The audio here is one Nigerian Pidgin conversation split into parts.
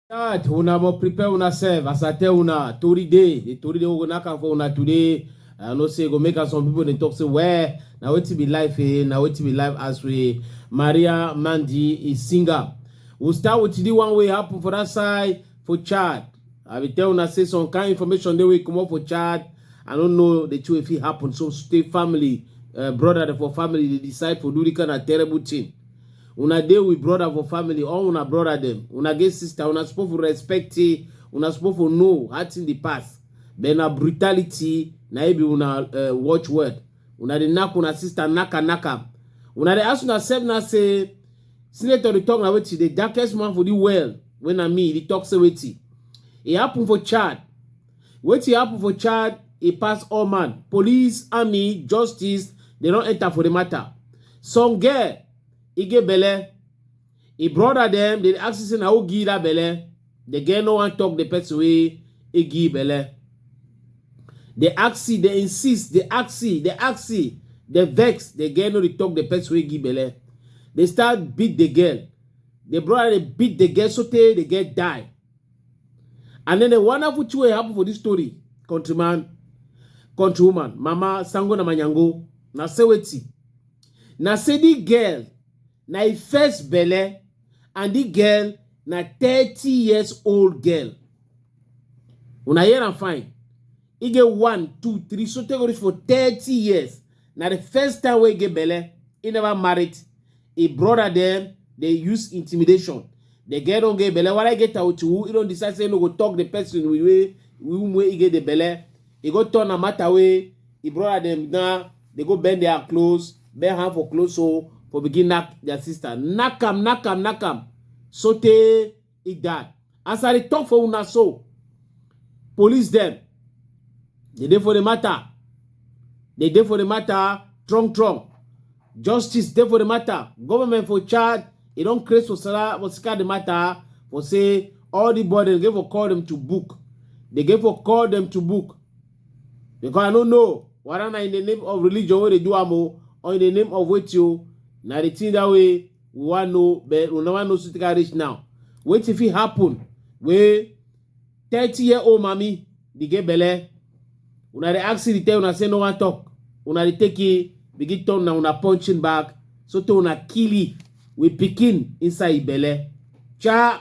That una mo prepare una serve as I tell una tori day the tori day we go knack am for una today i know say e go make am some people dey talk say well na wetin be life eh na wetin be life as we maria mandi is singer we we'll start with the one wey happen for that side for chad I will tell una say some kind information they will come up for Chad. I don't know the two if it happened. So stay family, uh, brother for family, they decide for do the kind of terrible thing. Una deal with brother for family, all una brother them. Una get sister, una supposed to respect it, una supposed to know what in the past. Then a brutality, na be una uh, watch word. Una the knock una sister knock and knock up. Una the ask una self now say Senator dey talk na wetin the darkest man for the world wey na me dey talk say wetin e happen for Chad. Wetin happen for Chad e pass all man. Police, army, justice dey don enter for the matter. Some girl e get belle, e brother dem dey ask you say na who give that belle. the girl no wan talk the person wey e give belle the axi the insist the axi the axi the vex the girl no dey talk the person wey give belle they start beat the girl the brother dey beat the girl sotey the girl die and then the wonderful thing wey happen for this story countryman countrywoman mama sango na manyango na say wetin na say the girl Na e first belle and the girl na thirty years old girl. Una hear am fine. E get one, two, three, so take go reach for thirty years. Na the first time wey e get belle, e never married. E brother dem dey use intimidation. The girl don get belle, whether e get tawuti who, e don decide say e no go talk the person wey wey whom wey e get the belle. E go turn am matter wey e brother dem now dey go bend their clothes. bare hand for close hole for begin knack their sister knack am knack am knack am sotey e die as i dey talk for una so police dem dey dey for the matter dey dey for the matter strong strong justice dey for the matter government for charge e don create for sara for sika the matter for say all the boy dem dey for call dem to book dey dey for call dem to book because i no know whether na in the name of religion wey dey do am o or in the name of wetin o na the thing that way we wan know but we never know sotey reach now wetin fit happen wey thirty year old mami dey get belle una dey ask the tell una say no wan talk una dey take e begin turn na una punching bag sotey una kill e with pikin inside e belle cha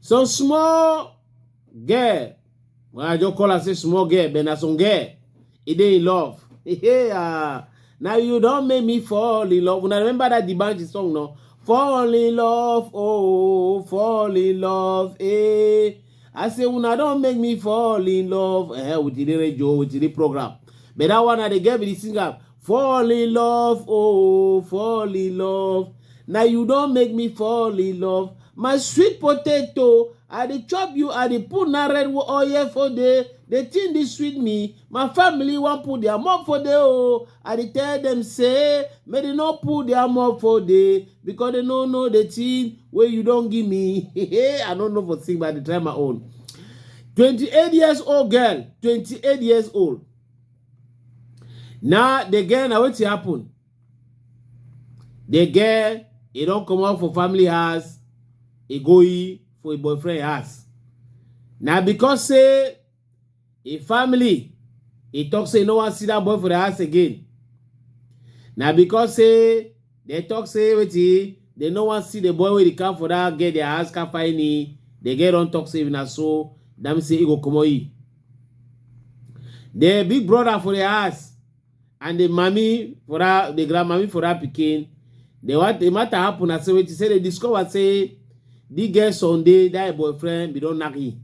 So small girl, well, I just call her say small girl, but na some girl, e dey in love. Hey, ah, now you don make me fall in love. Una remember that the Banji song, no? Fall in love, oh, fall in love, eh. I say una don make me fall in love eh, with the radio, with the program. But that one, I dey get with the singer. Fall in love, oh, fall in love. Now you don't make me fall in love. My sweet potato, I dey chop you, I dey put na red oil for day. The thing dey sweet me. My family wan put their mouth for day, oh. I dey tell them say, make they no put their mouth for day because they no know the thing wey you don give me. I no know for sing, but I dey try my own. 28 years old girl, 28 years old. Now the girl na wetin happen? The girl e don comot for family house e go e for im boyfriend house. Na because say im family e talk say e no wan see that boy for the house again. Na because say they talk say wetin they no wan see the boy wey dey come for that girl their house come find e the girl don talk say if na so that mean say e go comot e. the big brother for the house and the mommy for that the grandmommy for that pikin the what the matter happen na say wetin say they discover say the girl sunday that boyfriend be don knack him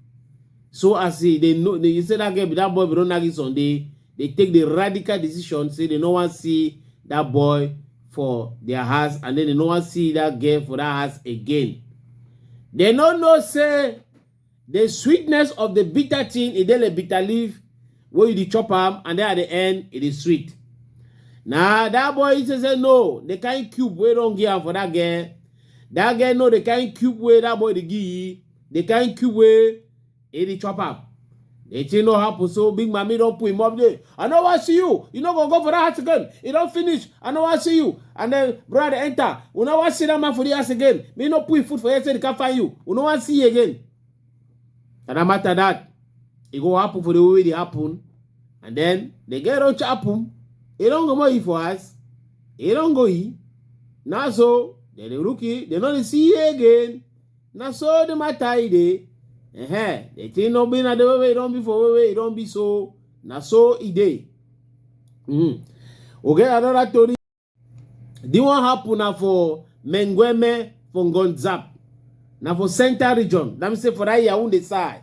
so as he they know they say that girl be that boy be don knack him sunday they take the radical decision say they no wan see that boy for their house and then they no wan see that girl for that house again they no know say The sweetness of the bitter thing, e dey like bitter leaf wey you dey chop am and then at the end, e dey sweet. Na that boy he say say no, the kind cube wey don give am for that girl, that girl know the kind cube wey that boy dey give, the kind cube wey e dey chop am. The thing no happen, so big mommy don't put him up there. I know I see you. You no go go for that house again. You don't finish. I know I see you. And then brother enter. You know I see that man for the house again. Me no put food for you, so they can't find you. You know I see you again. And no matter that, it go happen for the way it happen. And then they get don't happen. It don't go more for us. It don't go he. Now so, then the rookie, they don't see you again. na so the matter e dey uh-huh. the thing no be na the way wey e don be for way wey e don be so na so e dey mm. we get another tori the one happen na for mengueme for ngonzap na for central region na me say for that yaounde side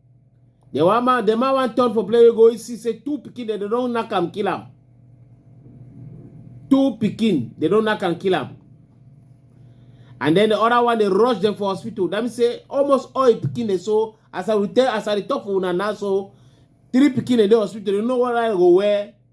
The one man, the man want turn for play, we go see say two pikin, they don't knock am, kill am. Two pikin, they don't knock am, kill am. And then the other one, they rush them for hospital. That means say almost all the pikin they so as I will tell, as I talk for una now, so three pikin in the hospital, they know what I go wear.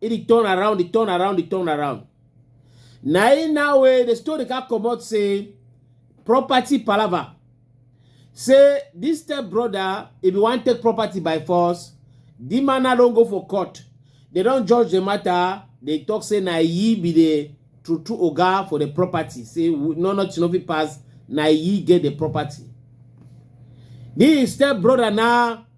e dey turn around dey turn around dey turn around na im now wey the story come comot say property palava say dis step brother e bin wan take property by force di man now don go for court dem don judge the matter dey talk say na he be the true true oga for the property say we- no nothing no fit pass na he get the property di step brother now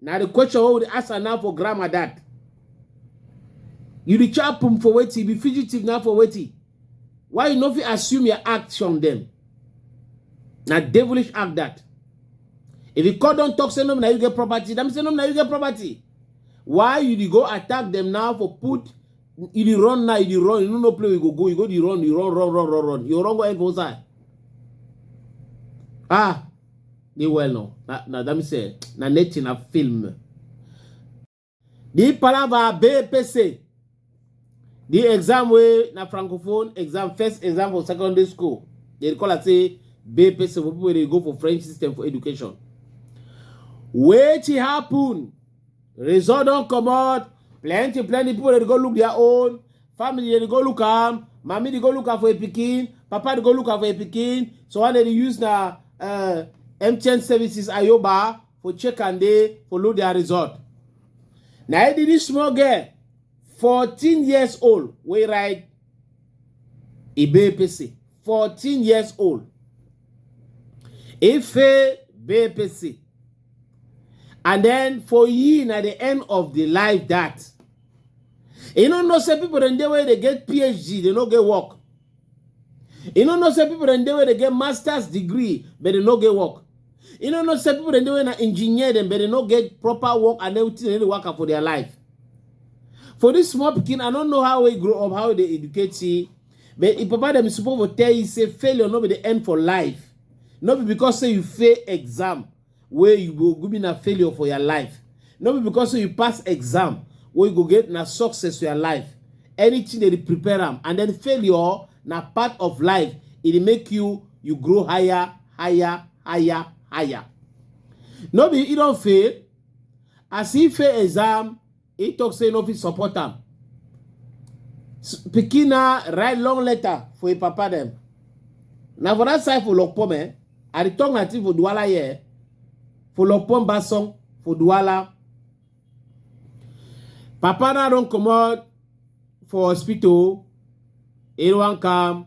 na the question wey we dey answer now for grandma dad you dey chop am for wetin you be fugitive now for wetin why you no fit assume your act from them na devilish act that if you call don talk say no be na you get property dem say no be na you get property why you dey go attack them now for put you dey run now you dey run you no know play you go go you go dey run you run run run run run you run go end for inside ah Ni well no. Na, na that means eh, na nature na film. The palava BPC. The exam way na francophone exam, first exam for secondary school. They call it say BPC for people they go for French system for education. Wait it happen. Result don't come out. Plenty, plenty people they go look their own. family dey go look am mami dey go look am for a pikin papa dey go look am for a pikin so one day dey use na uh, mtn services ayoba for check and dey for load their result na e dey this small girl fourteen years old wey ride ibe pese fourteen years old ife bepese and then for you na the end of the life that you no know say people dem dey wey dey get phd dey no get work you no know say people dem dey wey dey get masters degree but dey no get work you no know say people dem dey wey na engineer dem but dey no get proper work and everything dem dey waka for their life for this small pikin i no know how he grow up how he dey educate he but him papa dem suppose for tell you say failure no be the end for life no be because say you fail exam wey you go go be na failure for your life no be because say you pass exam wey you go get na success for your life anything dey prepare am and then failure na part of life e dey make you you grow higher higher higher higher no be e don fail as e fail exam He talk say no fit support am. Pikin na write long letter for him papa dem. Na for that side for Lokpom eh. I dey talk na thing for Duala here. Eh? For Lokpom Basong for Duala. Papa na don comot for hospital. He wan come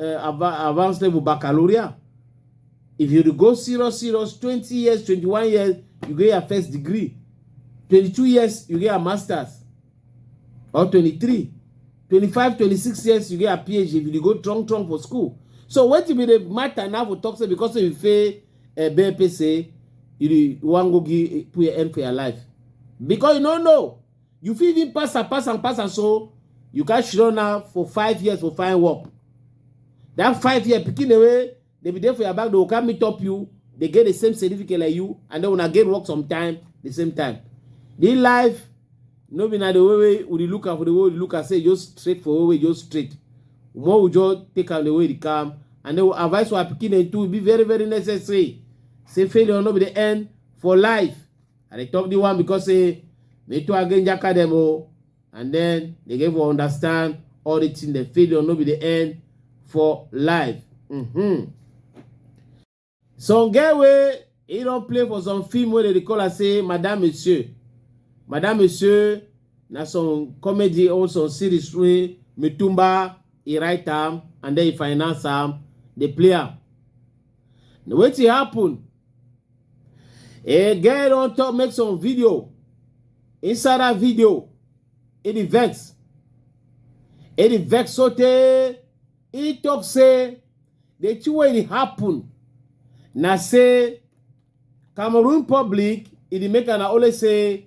uh, advanced level baccalaureate if you go serious serious twenty years twenty one years you get your first degree twenty two years you get your masters or twenty three twenty five twenty six years you get your phd if you go strong strong for school so wetin be the matter now for talk say because say you fail uh, eh, bpc you wan go give put your end for your life because you no know You fit even pass am, pass am, pass am, so you can shirona now for five years for fine work. That five year picking away, they be there for your back, they will come meet up you, they get the same certificate like you, and then when I get work sometime, the same time. The life, no be na the way way we look at for the way we look at say just straight for way way just straight. More we just take out the way they come, and they will advise our picking and to be very very necessary. Say failure no be the end for life. I dey talk the one because say me too again jaka them oh, and then they get for understand all the thing the failure no be the end for life. Mm-hmm. Some get way he don play for some film wey dey dey call am say Madame Monsieur. Madame Monsieur na some comedy or some series wey Mitumba he write am and then he finance am dey play am. Na wetin happen A girl don talk make some video. Inside that video, it dey vex. It dey vex sotey e talk say the thing wey dey happen na say Cameroon public e dey make am always say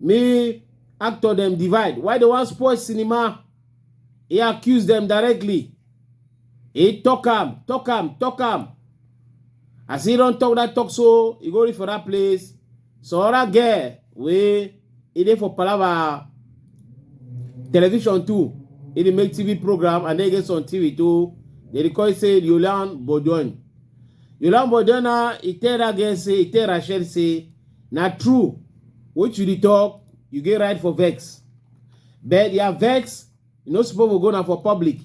Me actor dem divide why dem wan spoil cinema. He accuse dem directly. He talk am, talk am, talk am. As he don talk that talk so, he go reach for that place. Some other girl wey e dey for palava television too. He dey make TV program and then get some TV too. They dey call it say Yolan Bodon. Yolan Bodona, he tell that girl say, he tell Rachel say, Na true, what you dey talk, you get right for vex. But their vex, you no suppose go na for public.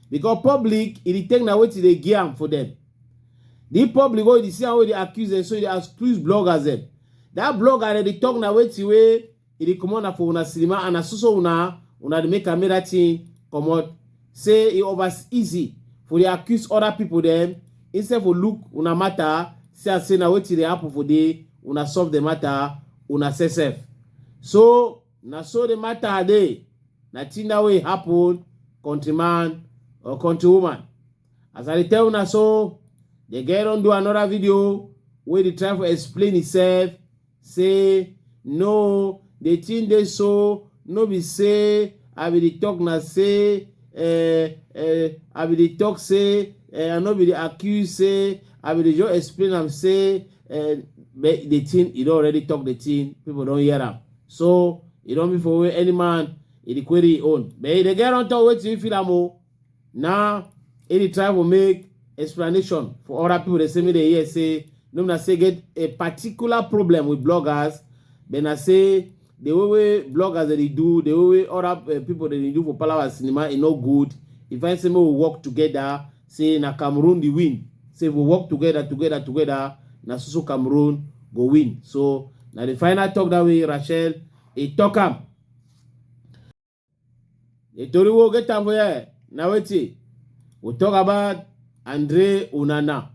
Because public, e dey take na wetin dey give am for them. The public wey you dey see am wey dey accuse them, so you dey accuse bloggers them. That blogger dem dey talk na wetin wey e dey comot na for una cinema and na so so una una dey make am make that thing comot say e over easy for dey accuse other people dem instead for look una matter see am say na wetin dey happen for dey una solve the matter una sef sef so na so the matter dey na thing that way happen countryman or countrywoman as i dey tell una so the girl don do another video wey dey try for explain himself say no the thing dey so no be say i be the talk na say uh, uh, i be the talk say uh, i no be the accuse say i be the just explain am say uh, but the thing e don already talk the thing people don hear am so e don be for where any man e dey query e own but e dey get on top wetin e feel am o Now, e dey try to make explanation for other people dey say make dey hear say no be na say get a particular problem with bloggers but na say the way wey bloggers dey dey do the way wey other uh, people dey dey do for palawa cinema e no good e find say make we work together say na cameroon dey win say if we work together together together na so so cameroon go win so na the final talk that way rachel e talk am The Tori will get time for here. Now wait see. We talk about Andre Unana.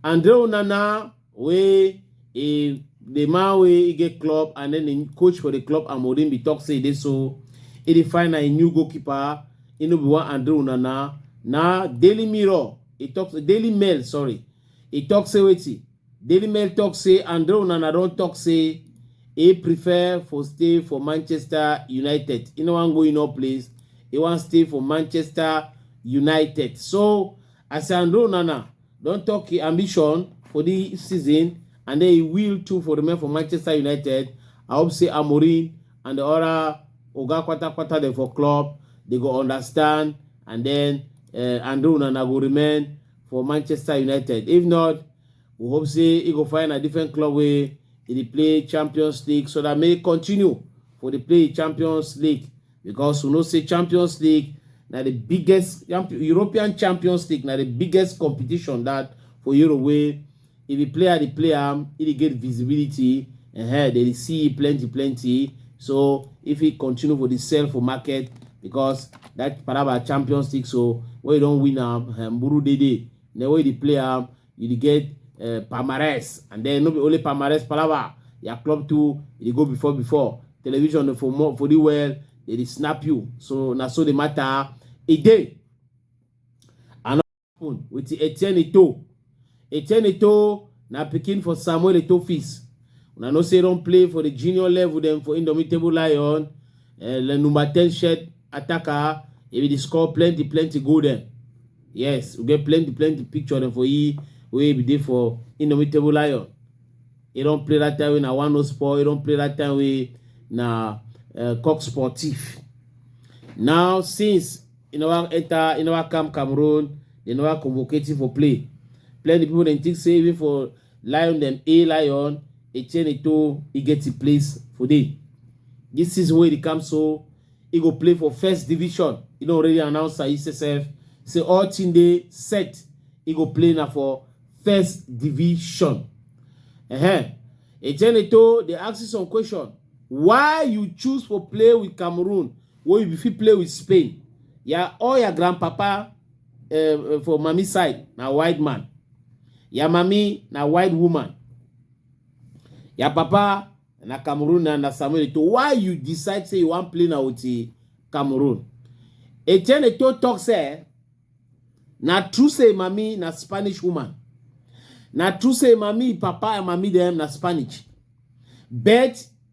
Andre Unana we he the man wey he get club and then the coach for the club Amorim be talk say this so he dey find a new goalkeeper. He no be one Andre Unana. Now Daily Mirror he talk Daily Mail sorry he talk say wait see. Daily Mail tok say Andre Onana don tok say e prefer for stay for Manchester United, e no wan go inor place, e wan stay for Manchester United. So as Andre Onana don tok e ambition for di season and den e will too for remain for Manchester United, I hope say Amorim and di oda oga kwata-kwata dem for club dey go understand and den Andre Onana go remain for manchester united if not we hope say he go find a different club wey he dey play champions league so that may continue for the play champions league because we know say champions league na the biggest european champions league na the biggest competition that for europe wey If the player dey play am, he dey get visibility, uh, they dey see plenty plenty. So if he continue for the sell for market because that Paraba Champions League, so when you don't win am, uh, Mburu dey dey. Then when you dey play am, you dey get uh, Palmarès, and then no be only Palmarès Palaba, your club too, you dey go before before. Television dey for more for the well, they dey snap you. So na so the matter e dey. happen with Etienne Eto'o. Etienne Eto'o na pikin for Samuel Eto'o Fils. Una know say don play for the junior level dem for Indomitable Lion, uh, number 10 shirt attacker, he be the score plenty plenty goal dem. Yes, we get plenty plenty picture dem for he wey be dey for Indomitable Lion. He don play that time wey na one no sport, he don play that time wey na uh, Coq Sportif. Now since e no wan enter e no wan come cameroon they no wan convocate him for play plenty people dem think say even for lion dem a lion etienne to e get him place for there this season wey dey come so e go play for first division e don already announce am himself say all thing dey set e go play na for first division uh-huh. etienne to dey ask you some question why you choose for play with cameroon wey you be fit play with Spain. Ya all ya grandpapa um for mummy side na white man. Ya mummy na white woman. Ya papa na Cameroon na na Samuel Eto'o. Why you decide say you wan play na with eh, Cameroon? Etienne Eto'o talk say na true say im mummy na Spanish woman. Na true say im mummy, im papa and mummy dem na Spanish. But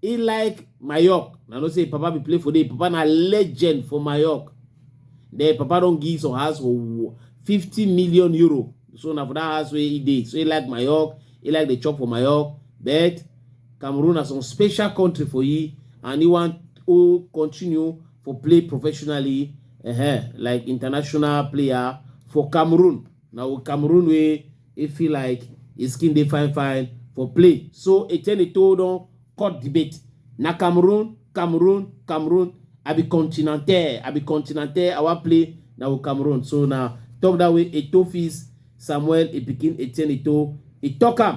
He like Mayork. I know say Papa be play for day. Papa na legend for Mayork. Then Papa don give some house for 50 million euro. So na for that house where he dey. So he like Mayork. He like the chop for Mayork. But Cameroon na some special country for you and he want to continue for play professionally uh -huh, like international player for Cameroon. na o cameroon wey e feel like e skin dey fine fine for play so etienne eto'o don cut debate na cameroon cameroon cameroon i be continental i be continental i wan play na o cameroon so na talk that way eto'o fils samuel e pikin etienne eto'o e talk am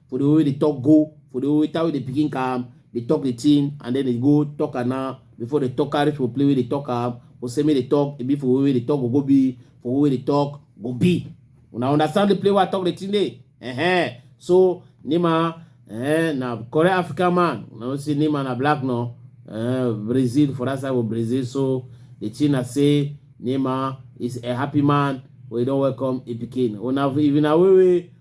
for the way wey dey talk go for the way time wey the pikin come dey talk the thing and then dey go talk am now before dey talk carry for play wey dey talk am for say make dey talk e be for way wey dey talk go go be for way wey dey talk go be una understand the play wey i talk the thing dey uh-huh. so nima uh, na correct african man una know say nima na black no uh, brazil for that side of brazil so the thing na say nima is a happy man wey don welcome a pikin una if na way wey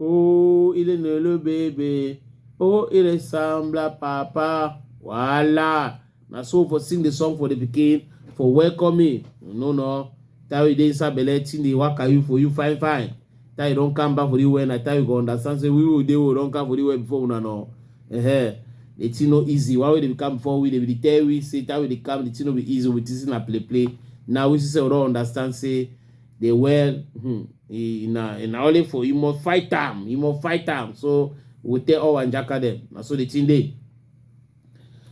Oh, il est né le baby. Oh, il ressemble à papa. Voila. Na so for sing the song for the pikin for welcome me. No, no. Tell you dey inside belle, thing dey waka you for you fine, fine. Tell you don come back for the well, na tell you go understand say we will dey we don come for the well before una no. Uh-huh. The thing no easy. Why we dey come before we dey be tell we say tell we dey come the thing no be easy. We think say na play play. Now we see say we don understand say dey well hmm, e, na e na only for you must fight am you must fight am so we tell all wanjaka dem na so the thing dey.